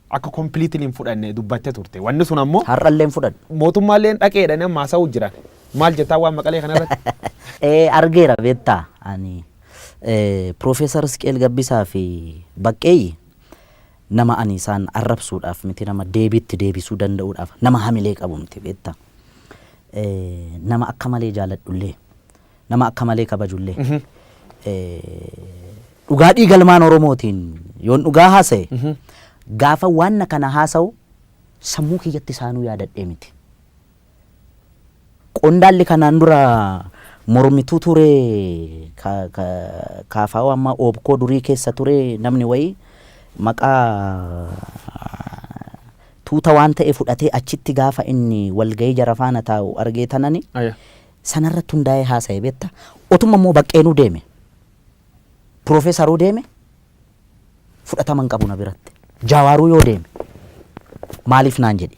A: akka completely hin fudhanne dubbatte turte wanni sun ammoo Har'allee hin fudhannu.
C: mootummaalleen dhaqee jedhanii
A: amma haasa'uu jiran maal jettaa waan maqalee kana irratti Eh, argeera beektaa
C: ani eh, Profeesar Isqeel Gabbisaa fi Baqqeeyyi nama ani isaan arrabsuudhaaf miti nama deebiitti deebisuu danda'uudhaaf nama hamilee qabu miti beektaa Eh, nama akka malee jaaladhullee nama akka malee kabajullee. Dhugaa dhiiga ilmaan Oromootiin yoon dhugaa haasa'e gaafa waan kana haasa'u sammuu kiyyatti isaanuu yaadadhee miti. Qondaalli kanaan dura mormituu ture kaafaa'oo amma oobkoo durii keessa ture namni wayii maqaa tuuta waan ta'e fudhatee achitti gaafa inni walgahii jara faana taa'u argee tanani sanarratti hundaa'ee haasa'e beekta. Otuma immoo Baqqeenuu deeme, Piroofeesaruu deeme fudhatama hin qabu na biratti. Jaawaaruu yoo deeme maaliif naan jedhi.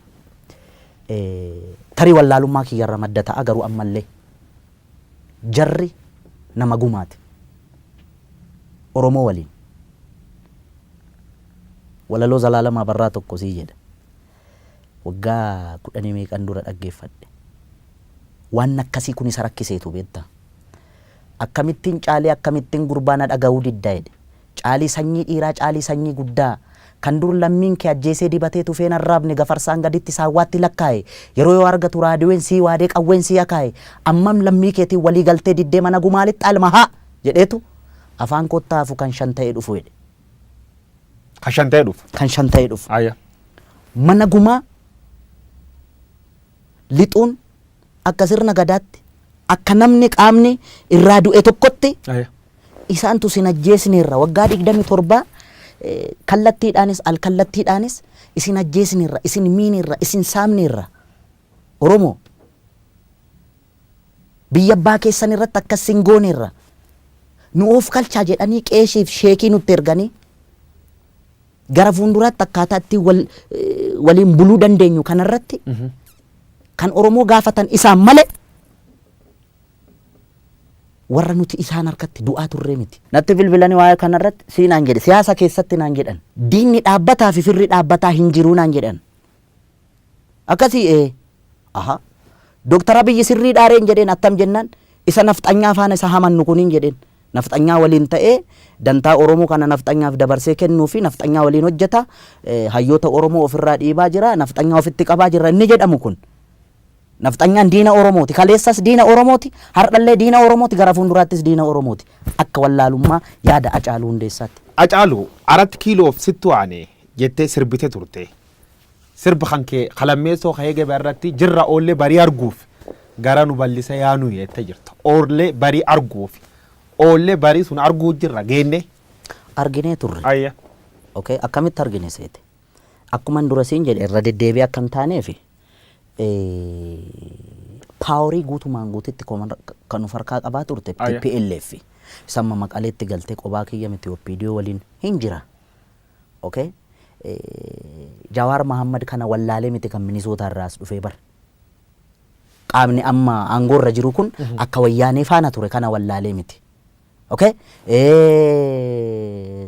C: Tarii wallaalummaa kiyyarra madda ta'a garuu ammallee jarri nama gumaati. Oromoo waliin. Walaloo Zalaalam Abarraa tokko sii jedha. Waggaa kudhanii meeqan dura dhaggeeffadhe. Waan akkasii kun isa rakkiseetu beektaa. Akkamittiin Caalii akkamittiin gurbaa na dhagahuu didda jedhe. Caalii sanyii dhiiraa Caalii sanyii guddaa kan dur lammiin kee ajjeesee dibatee tufeen arraabne gafarsaan gaditti saawwaatti lakkaahe yeroo yoo argatu raadiween sii waadee qawween sii akaahe ammam lammii keetiin walii galtee diddee mana gumaa lixxaa ilma haa jedheetu afaan kootti haafu kan shan ta'ee dhufu jedhe.
A: Kan shan ta'ee dhufu. kan shan ta'ee dhufu. Ayya.
C: Mana gumaa lixuun akka sirna gadaatti akka namni qaamni irraa du'e tokkotti Ayya. isaantu isin ajjeesneerra waggaa 27 eh, kallattiidhaanis alkallattiidhaanis isin ajjeesneerra isin miineerra isin saamneerra Oromoo! Biyya abbaa keessan irratti akkas sin gooneerra, nu oofkalchaa jedhanii qeeshii fi sheekii nutti erganii, gara fuunduraatti akkaataa ittiin wal, waliin buluu dandeenyu kana irratti kan Oromoo gaafatan isaan malee warra nuti isaan harkatti du'aa turree miti. Natti bilbilanii waa'ee kana irratti sii naan jedhe. Siyaasa keessatti naan jedhan. Diinni dhaabbataa fi firri dhaabbataa hin jiruu naan jedhan. Akkasii ee. Ahaa. Dr. Abiyyi sirrii dhaa reen jedheen attam jennaan isa nafxanyaa faana isa hamannu kuniin jedheen. Nafxanyaa waliin ta'ee dantaa Oromoo kana nafxanyaaf dabarsee kennuu fi nafxanyaa waliin hojjeta, hayyoota Oromoo of irraa dhiibaa jira, nafxanyaa ofitti qabaa jirra inni jedhamu kun. Nafxanyaan diina Oromooti. Kaleessas diina Oromooti, hardhallee diina Oromooti, gara fuunduraattis diina Oromooti. Akka wallaalummaa yaada Hacaaluu Hundeessaatti. Hacaaluu, Arat
A: Kiiloof sittu aane jettee sirbite turte. Sirb kan kee ka lammeessoo ka'ee gabaa irratti jirra oollee barii arguuf gara nu bal'isa yaa nu jettee jirta. Oollee barii arguuf oollee barii sun arguu jirra geennee. Arginee
C: turre. Ayya.
A: Okay, akkamitti
C: argine seete? Akkuman dura siin jedhe irra deddeebi'ee akka hin taaneef paaworii guutumaan guutitti koman- kan nu farkaa qabaa turte Ayya. TPLF. Samma maqaleetti galtee qobaa kiyya miti OPDO waliin hin jira. ok Jawaar Mahammad kana wallaalee miti kan Minisootaa irraa as dhufee bar qaamni amma aangoo irra jiru kun akka wayyaanee faana ture kana wallaalee miti ok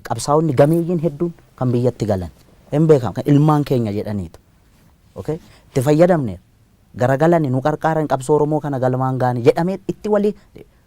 C: qabsaa'onni gameeyyiin hedduun kan biyyatti galan hin beekamu kan ilmaan keenya jedhaniitu ok itti fayyadamne garagalani nu qarqaaran qabsoo Oromoo kana galmaan gaane jedhamee itti walii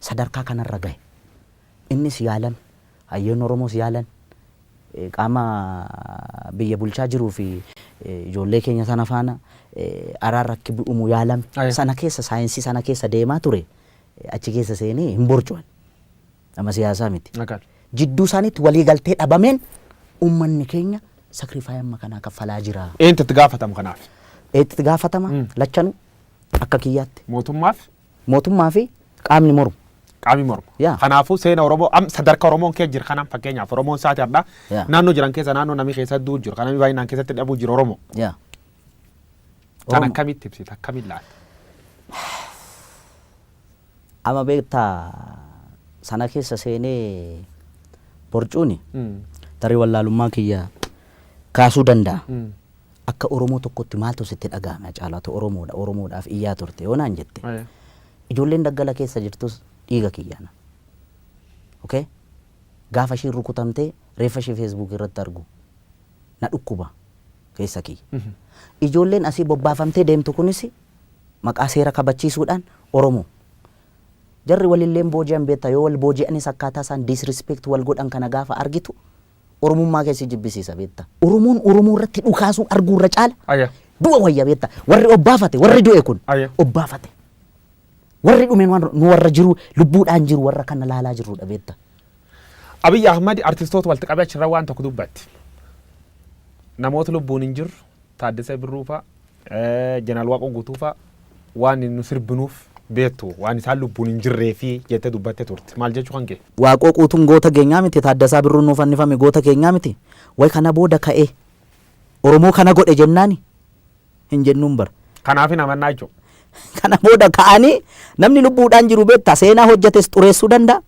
C: sadarkaa kanarra gahe. Innis yaalan, hayyoonni Oromoos yaalan, qaama biyya bulchaa jiruu fi ijoollee keenya sana faana araarri akki bu'umu yaalame. Aye. Sana keessa saayinsii sana keessa deemaa ture achi keessa seenee hin borcuan. Nama siyaasaa miti. Agal. Jidduu isaaniitti walii galtee dhabameen ummanni keenya sakrifaayii amma kanaa kaffalaa jira. Eenyutu itti gaafatamu kanaaf?
A: Eenyutu itti gaafatama?
C: Lachanuu akka kiyyaatti. Mootummaaf? Mootummaa
A: fi qaamni
C: mormu. Qaamni mormu. Yeah.
A: Kanaafuu seena Oromoo am sadarka Oromoon kee jira kanaan fakkeenyaaf Oromoon saati har'aa Yeah. naannoo jiran keessa naannoo namni keessa du'u jiru kan namni baay'inaan keessatti dhabuu jiru Oromoo. Yaa. Kan Oromoo. akkamitti ibsita akkamiin laata?
C: Ama beektaa sana keessa seenee borcuuni Mm. tarii wallaalummaa kiyya kaasuu danda'a. Mm. Akka Oromoo tokkotti maaltu sitti dhagahame Hacaaluu? Ati Oromoodha, Oromoodhaaf iyyaa turte yoo naan jette, ijoolleen daggala keessa jirtus dhiiga kiyyaana. Ok? Gaafa ishiin rukutamtee reeffa ishii Facebook irratti argu na dhukkuba keessa kiyya. Ijoolleen asii bobbaafamtee deemtu kunis maqaa seera kabachiisuudhaan Oromoo. Jarri walillee hin booji'an beektaa, yoo wal booji'anis akkaataa isaan disrespect wal godhan kana gaafa argitu Oromummaa kee si jibbisiisa beekta. Oromoon Oromoo irratti dhukaasuu arguu irra caala Aya. du'a wayya beekta. Warri obbaafate warri du'e kun Aya. obbaafate. Warri dhume nu warra- nu warra jiru lubbuudhaan jiru warra kana laalaa jirrudha beekta. Abiy
A: Ahmad artistoota walitti qabee achirra waan tokko dubbatti. Namoota lubbuun hin jirru Taaddasee Birruu fa'a Jeneraal Waaqoo Guutuu fa'a waan nu sirbinuuf beektu waan isaan lubbuun hin jirreefi jettee dubbattee turte. Maal jechuu kan kee? Waaqoo Quutuun goota
C: keenyaa miti? Taaddasaa Birruun nuu fannifame goota keenyaa miti? Way kana booda ka'ee Oromoo kana godhe jennaani hin jennuun bar. Kanaaf hin amannaa
A: jechuudha. Kana booda
C: ka'anii namni lubbuudhaan jiru beektaa seenaa hojjetes xureessuu danda'a.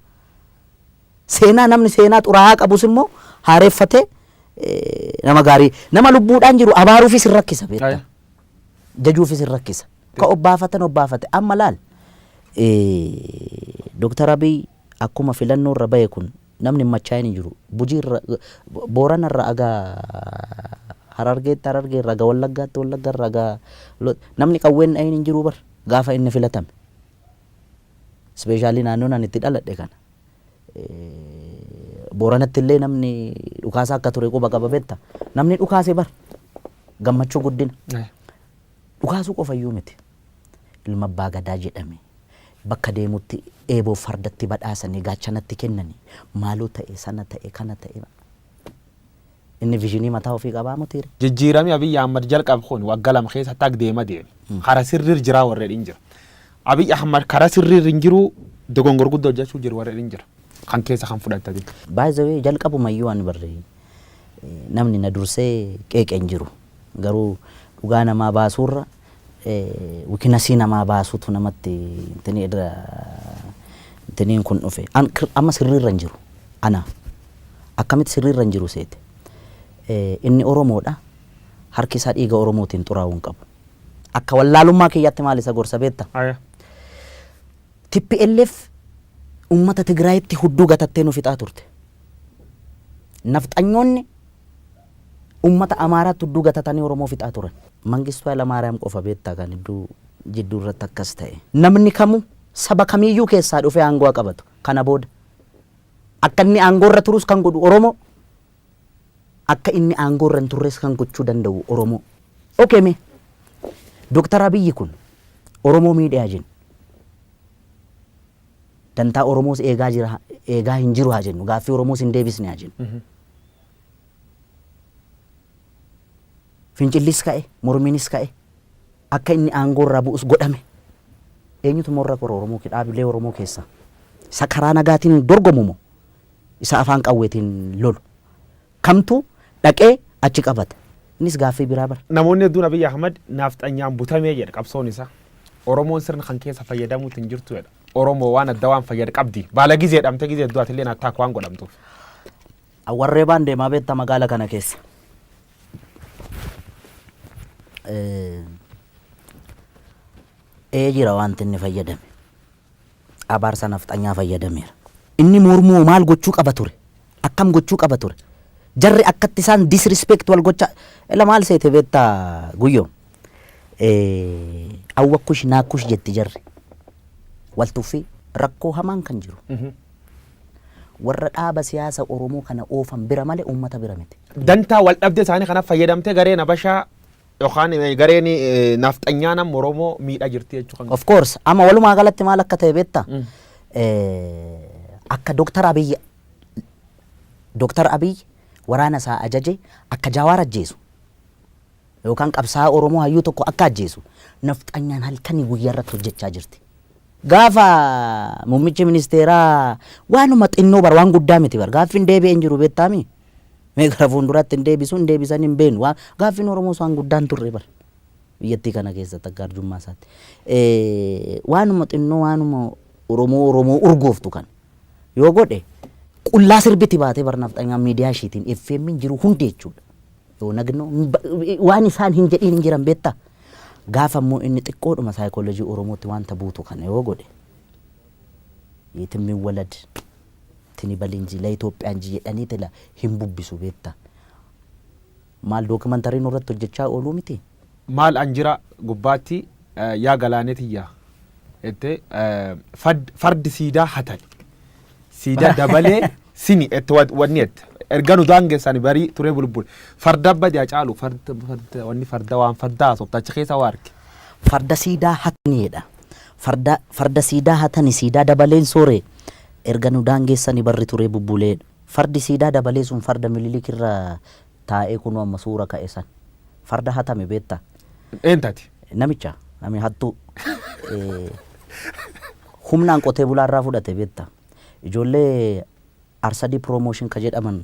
C: Seenaa namni seenaa xuraa'aa qabus immoo haareffatee nama gaarii nama lubbuudhaan jiru abaaruufis hin rakkisa beektaa. Jajuufis hin rakkisa. Ka obbaafatan obbaafate amma laal. Dooktar Abiy akkuma filannoo irra bahe kun namni hin machaa'in hin jiru. Bujii irra Boorana irra aga Harargeetti Harargee irra aga Wallaggaatti Wallagga irra aga namni qawween dhahin hin jiru bar gaafa inni filatame. Ispeeshaalii naannoon ani itti dhaladhe kana. Booranatti illee namni dhukaasaa akka ture quba qaba betta. Namni dhukaase bar gammachuu guddina. Dhukaasuu qofayyuu miti. Ilma abbaa gadaa jedhame. Bakka deemutti eeboo fardatti badhaasanii gaachanatti kennanii maaloo ta'e sana ta'e kana ta'e. Inni visionii mataa ofii qabaa motii re. Jijjiirami Abiy Ahmad
A: jalqab kun wagga lama keessa tag deema deeme. Kara sirrir jiraa warri jedhin jira. Abiy Ahmad kara sirrir hin jiruu dogongor gudda hojjachuu jir warri jedhin jira. Kan keessa kan fudhatta ati. By the way
C: jalqabumayyuu ani barri namni na dursee qeeqe hin jiru. Garuu dhugaa namaa baasuurra wikinasii namaa baasutu namatti intinii edda intiniin kun dhufe an kir- amma sirriirra hin jiru ana akkamitti sirriirra hin jiru seete Eh, inni oromoodha harki isaa dhiiga oromootiin xuraa'uu hin qabu akka wallaalummaa kiyyaatti maal isa gorsa beetta Aya. TPLF uummata Tigraayitti hudduu gatattee nu fixaa turte. Nafxanyoonni Ummata Amaaraa tudduu gatatanii Oromoo fixaa turan. Mangistuu Haylamaariyaam qofa beektaa kan hedduu jidduu irratti akkas ta'e. Namni kamuu saba kamiiyyuu keessaa dhufee aangoo haa qabatu. Kana booda akka inni aangoo irra turus kan godhu Oromoo, akka inni aangoo irra hin turres kan gochuu danda'u Oromoo. Ok mee Dr. Abiyyi kun Oromoo miidheeha jennu. Dantaa Oromoos eegaa jira, eegaa hin jiru haa jennu. Gaaffii Oromoos hin deebisne haa jennu. Fincillis ka'e, mormiinis ka'e, akka inni aangoo irraa bu'us godhame. Eenyutu immoo irra gore Oromoo kee dhaabilee Oromoo keessaa? Isa karaa nagaatiin dorgomu moo isa afaan qawweetiin lolu? Kamtu dhaqee achi qabata? Innis gaaffii biraa bar. Namoonni hedduun Abiy Ahmad
A: naafxanyaan butame jedha qabsoon isaa. Oromoon sirna kan keessa fayyadamuutti hin jirtu jedha. Oromoo waan adda waan fayyad qabdi. Baala gizee dhamte gizee heddu atilleen attack waan godhamtuuf.
C: Awwarreebaan deemaa beetta magaala kana keessa. Ee jira wanti inni fayyadame. Abaarsa nafxanyaa fayyadameera. Inni mormuo maal gochuu qaba ture? Akkam gochuu qaba ture? Jarri akkatti isaan disrespect wal gochaa ela maal seete beetta guyyo. Awwakkush naakkush jetti jarri. Wal tuffii rakkoo hamaan kan jiru. Warra dhaaba siyaasa Oromoo kana oofan bira malee uummata bira miti. Dantaa waldhabdee
A: isaanii kanaf fayyadamtee gareen Habashaa yookaan gareen Nafxanyaan amma Oromoo miidhaa jirti jechuu kan Of course amma walumaa
C: galatti maal akka ta'e beekta? Akka Dooktar Abiy Dooktar Abiy waraana isaa ajaje akka Jaawaar ajjeesu Yookaan qabsaa'aa Oromoo hayyuu tokko akka ajjeesu nafxanyaan halkanii guyyaa irratti hojjechaa jirti. Gaafa muummichi ministeeraa waanuma xinnoo bar waan guddaa miti bar gaaffiin deebi'ee hin jiru beektaami. Mee gara fuulduraatti hin deebisu hin deebisan hin beenu waan gaaffiin Oromoos waan guddaa hin turre bar biyyattii kana keessatti akka arjummaa isaatti. Eh, Waanuma xinnoo waanuma Oromoo Oromoo urgooftu kan yoo godhe qullaa sirbiti baatee bar nafxanyaan miidiyaa ishiitiin FM'n jiru hundi jechuudha. Yoo nagno waan isaan hin jedhiin hin jiran beektaa? Gaafa immoo inni xiqqoodhuma saayikoolojii Oromootti waanta buutu kana yoo godhe yeetim miwwalad tini bali inji la Itoophiyaa inji jedhanii tila hin bubbisu beektaa? Maal dookimantarii nurratti hojjechaa ooluu mitii? Maal an jira
A: gubbaatti yaa galaanee tiyya jette fardi siidaa hatani siida dabalee sini jette wanni jette erga nu daangessani barii turee bulbul farda badi hacaalu farda wanni farda waan farda haasofta achi keessa waa arge. Farda siidaa
C: hatani jedha. Farda farda siidaa hatani siidaa dabaleen soore erga nu daangessani barri turee bubbulee fardi siidaa dabalee sun farda mililik irra taa'ee kunoo amma suura ka'e san. Farda hatame beetta. Eentu hate?
A: Namicha.
C: Nami hattuu. Humnaan qotee bulaa irraa fudhate beetta. Ijoollee Arsadii Promotion ka jedhaman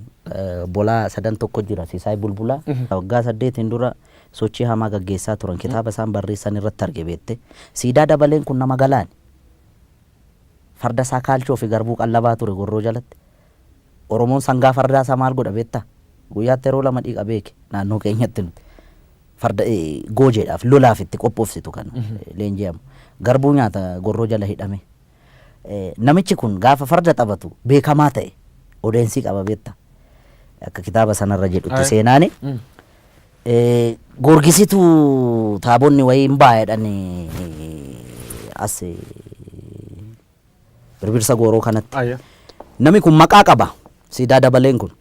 C: bolaa sadan tokko jira Sisaay Bulbulaa. Waggaa saddeetiin dura sochii hamaa gaggeessaa turan. Kitaaba isaan barreessan irratti arge beette. Siidaa dabaleen kun nama galaani. Farda isaa kaalchoo fi garbuu qallabaa ture gorroo jalatti. Oromoon sangaa fardaa isaa maal godha beektaa? Guyyaatti yeroo lama dhiqa beeki naannoo keenyatti nuti. Farda goojeedhaaf lolaaf itti qophoofsitu kan leenji'amu. Garbuu nyaata gorroo jala hidhamee. Namichi kun gaafa farda taphatu beekamaa ta'e odeensii qaba beektaa? Akka kitaaba sanarra jedhutti seenaani. Goorgisitu taabonni wayii hin baa jedhani as Birbirsa Gooroo kanatti. Ayya. Nami kun maqaa qaba. Siidaa dabaleen kun.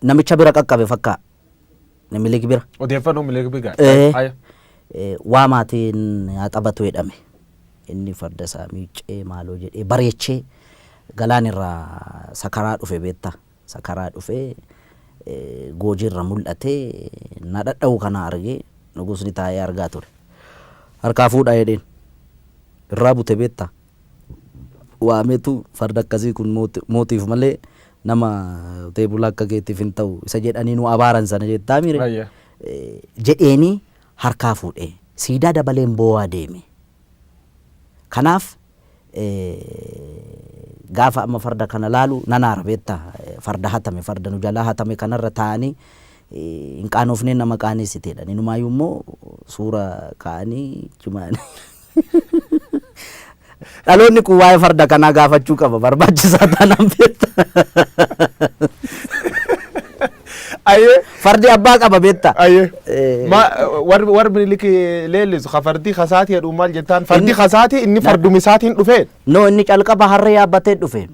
C: Namicha bira qaqqabe fakkaa. Minilik bira. Odeeffannoo Minilik bira.
A: Eh. Aya. Eh,
C: waa maatiin haa taphatu jedhame. Inni farda isaa miiccee maaloo jedhee bareechee galaan irraa sakaraa dhufe beektaa. Sakaraa dhufee eh, goojii irra mul'atee na dhadha'u kana argee nugusni taa'ee argaa ture. Harkaa fuudhaa jedheen. Irraa bute beektaa. waametu farda akkasii kun mootiif malee nama qotee bulaa akka keetiif hin ta'u isa jedhanii nu abaaran sana jettaa mire Ayya. jedheeni harkaa fuudhee siidaa dabaleen boo'aa deeme. Kanaaf eh, gaafa amma farda kana laalu nan aara beetta farda hatame farda nu jalaa hatame kanarra taa'anii hin qaanoofneen nama qaaneessiteedhan. Inumaayuu immoo suura kaa'anii jimaan. Dhaloonni kun waa'ee farda kanaa gaafachuu qaba barbaachisaa taanaan beekta.
A: Ayyee. Fardi abbaa
C: qaba beekta. Ayyee. Eh, Ma
A: warri warri Minilik leellisu ka fardi kasaati jedhu maal jettaan? Fardi Inni- kasaati inni farduma isaatiin dhufee. No inni calqaba
C: harree yaabbatee dhufe.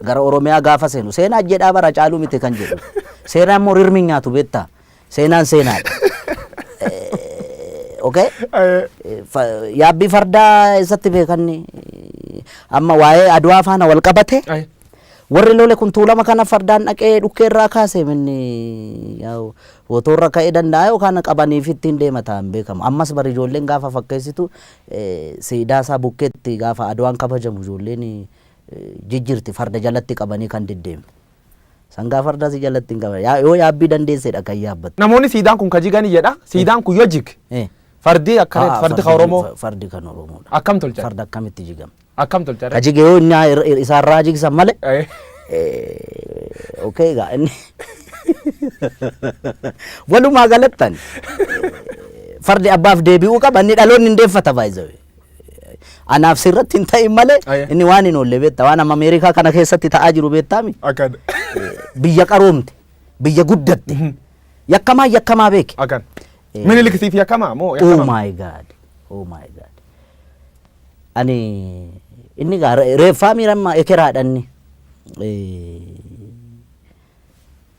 C: Gara Oromiyaa gaafa seenu seenaa jedhaa bara caaluu miti kan jedhu. Seenaan immoo rirmi nyaatu beektaa. Seenaan seenaadha. Eh, Okay? Eh, Eh, fa- Yaabbii fardaa eessatti beekanni amma waa'ee Adwaa faana wal qabate eh, warri lole kun tuulama kana fardaan dhaqee dhukkee irraa kaase minni yaa'u wotoorra ka'ee danda'a yookaan qabaniif ittiin deema ta'an beekamu ammas bari ijoolleen gaafa fakkeessitu Siidaa isaa bukkeetti gaafa Adwaan kabajamu ijoolleen jijjirti farda jalatti qabanii kan deddeemtu. Sangaa fardaa si jalatti hin qaban. Yaa- Yoo yaabbii dandeessedha kan yaabbattu. Namoonni siidaan kun ka jigani
A: jedha. Siidaan kun yoo jige Eh. fardi akkana Haa, fardi ka Oromoo fa- Fardi kan Oromoodha.
C: akkam tolchan? Farda akkamitti
A: jigama?
C: Akkam tolcha irra? Kajige
A: yoo inni ir- ir-
C: isaa irraa jigsan malee. Eh, Eh, okay egaa inni walumaa galattan fardi abbaaf deebi'uu qaba inni dhaloonni hin deeffata baay'isawe. Anaaf sirratti hin ta'in malee Aye. inni waan hin oolle beekta waan amma Ameerikaa kana keessatti ta'aa jiru beektaami. Akkan.
A: Biyya
C: qaroomte biyya guddatte yakkamaa yakkamaa beeke. Akkan. Eh,
A: Minilik siif yakkamaa moo Oh yakkamaa? my god.
C: Oh my god. Ani inni gaa re- reeffaa miirammaa ekeraadhanni.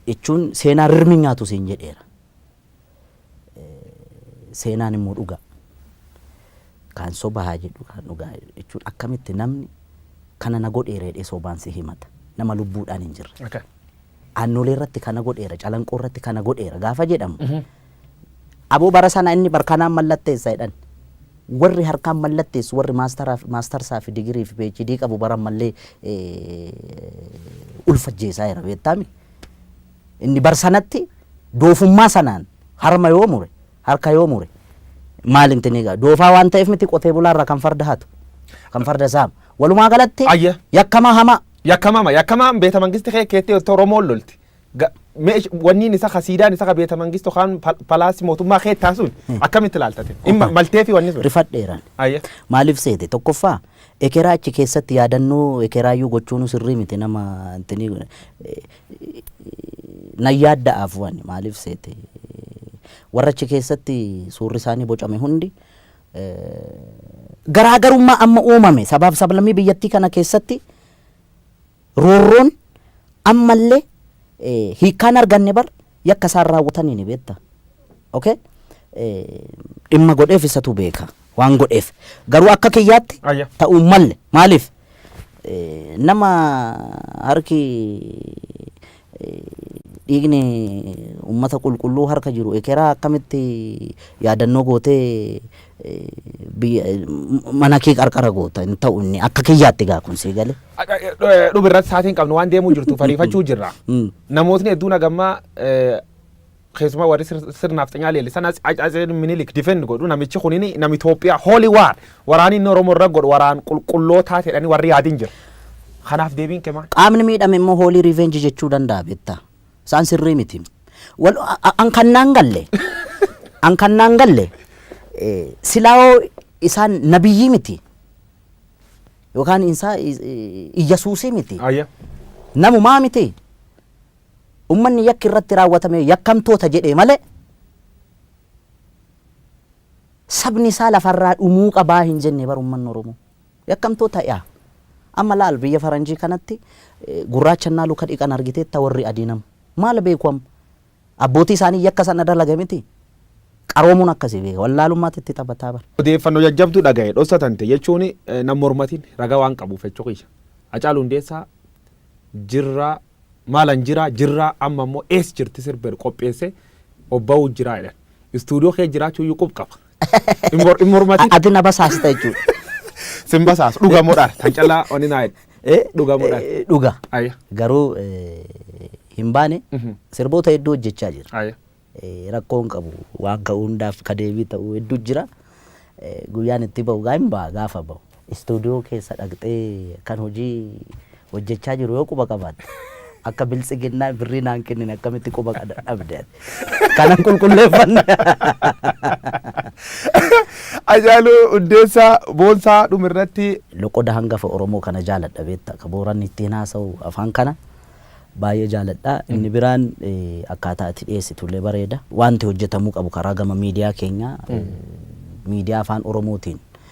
C: Jechuun seenaa rirmi nyaatu siin jedheera. Eh, Seenaan immoo dhugaa. Kan soba haa jedhu kan dhugaa jechuun akkamitti namni kana na godheera jedhee sobaan si himata. Nama lubbuudhaan hin jirre. Okay. Aannoleerratti kana godheera, Calanqoorratti kana godheera gaafa jedhamu aboo bara sana inni bar kanaan mallatteessa jedhan. Warri harkaan mallatteessu warri maastaraaf- maastarsaa fi digirii fi PhD qabu bara ammallee eh, ulfa ajjeesaa jira beektaami. Inni bar sanatti doofummaa sanaan harma yoo mure Harka yoo mure maal himti ni ga'a. Doofaa waan ta'eef miti qotee bulaa irraa kan farda hatu. Kan farda saamu. Walumaa galatti Ayya. yakkamaa hamaa. Yakkamama yakkamaan
A: beeta mangisti kee keettee itti Oromoon lolti. Ga- meesh- Wanniin isa ka siidaan isa ka beeta mangistu kaan pal- palaasi mootummaa keettaa sun akkamitti ilaaltate? Dhimma maltee fi wanni sun. Rifadheeraan. Ayya.
C: Maaliif seete? Tokkoffaa ekeraa achi keessatti yaadannoo ekeraayyuu gochuun sirrii miti nama intini Nan yaadda'a afuu ani maaliif seete? Warra achi keessatti suurri isaanii bocame hundi garaagarummaa amma uumame sabaaf sablammii biyyattii kana keessatti roorroon ammallee hiikkaan arganne bar Yakka isaan raawwatanii ni beekta. Okay? Dhimma godheef isatu beeka. Waan godheef. Garuu akka kiyyaatti Ayya. ta'uu hin malle. Maaliif? Nama harki dhiigni uummata qulqulluu harka jiru ekeraa akkamitti yaadannoo gootee mana kee qarqara goota hin ta'u inni akka kiyyaatti gaa kun sii gale. Dhuma irratti
A: saatiin qabnu waan deemuu jirtu fariifachuu jirra. Namootni hedduun hagammaa keessumaa warri sirnaaf xinyaa leellisan Atseen Minilik difend godhu namichi kun nama Itoophiyaa hooli waar waraanni inni Oromoo irra godhu waraan qulqullootaa jedhanii warri yaadin jira. Kanaaf deebiin kee maal? Qaamni miidhame immoo hoolii
C: revenge jechuu danda'a beektaa. Isaan sirrii miti. Wal- a- a- An kan naan galle. An kan naan galle. eh, Silaawoo isaan nabiyyii miti. Yookaan isaa iyyasuusii miti. Ayya. Namumaa miti. Ummanni yakki irratti raawwatame yakkamtoota jedhee malee sabni isaa lafarraa dhumuu qabaa hin jenne bar ummanni Oromoo. Yakkamtoota ya. Amma laal biyya faranjii kanatti gurraacha ennaa luka dhiqan argiteetta warri adii nam. Maal beeku amma? Abbootii isaanii yakka sana dalage miti? Qaroomuun akkasi beeka. Wallaalummaatu itti taphataa bar. Odeeffanno jajjabdu dhagahe
A: dhossa tante jechuun nan mormatin raga waan qabuuf Fechoo kiyya. Hacaalu Hundeessaa jirra maalan jira jirra amma immoo eess jirti sirber qopheesse obba'uu jira jedhan. Studio kee jiraachuu iyyuu qub qaba. Hin mor- hin mormatin. Ati na basaasta jechuudha.
C: Sin basaas
A: dhuga modhaar tan callaa wani naa jedhe. Eh, Dhuga modhaar. eh, Dhuga. Ayya.
C: Garuu eh, hin baane Mhm. sirboota hedduu hojjechaa jira. Ayya. Eh, Rakkoo hin qabu waan ka'u hundaaf ka deebii ta'u hedduu jira. Eh, Guyyaan itti ba'u gaa hin ba'a gaafa ba'u. istuudiyoo keessa dhaqxee kan hojii hojjechaa jiru yoo quba qabaatte akka biltsiginnaa birrii naan kennine akkamitti quba qada- dhabde ati? kanan qulqulleeffanne
A: Ajaaluu Hundeessaa Boonsaa dhumirratti loqoda hangafa
C: Oromoo kana jaaladha beekta akka booranni ittiin haasa'u afaan kana baay'ee jaaladha inni biraan eh, akkaataa ati dhiyeessitu illee bareeda wanti hojjetamuu qabu karaa gama miidiyaa keenyaa eh, miidiyaa afaan Oromootiin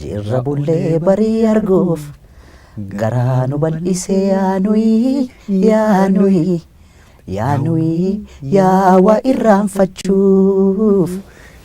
C: Jirra bullee barii arguuf garaa nu bal'isee yaa nuyi yaa nuyi yaa nuyi yaa waa irraanfachuuf.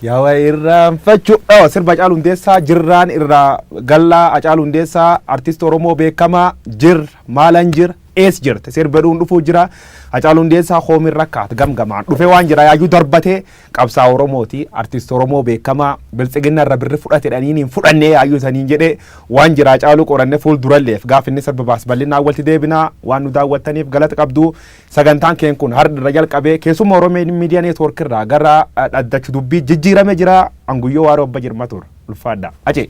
C: Yaa
A: waa irraanfachuu. Oh, sirba Hacaaluu Hundeessaa jirraan irraa gallaa Hacaaluu Hundeessaa artist Oromoo beekamaa jir maalan jir ees jirte sirba dhuun dhufuu jira Hacaaluu Hundeessaa hoomin rakkaat gamgamaan dhufe waan jira yaayuu darbatee Qabsaa'aa Oromooti, Artist Oromoo beekamaa, Biltsiginna irra birri fudhate dhaniin hin fudhannee yaayyuu isaniin jedhee waan jiraa caaluu qoranne fuul duralleef gaaf inni sababaas bal'inaan walti deebinaa waan nu daawwattaniif galata qabdu sagantaan keen kun hardha irra jalqabee keessumma Oromian Media Network irraa gara dhaddachu dubbii jijjiirame jira Anguyyoo Waaroo Abba Jirma tur ulfaadha. Acee.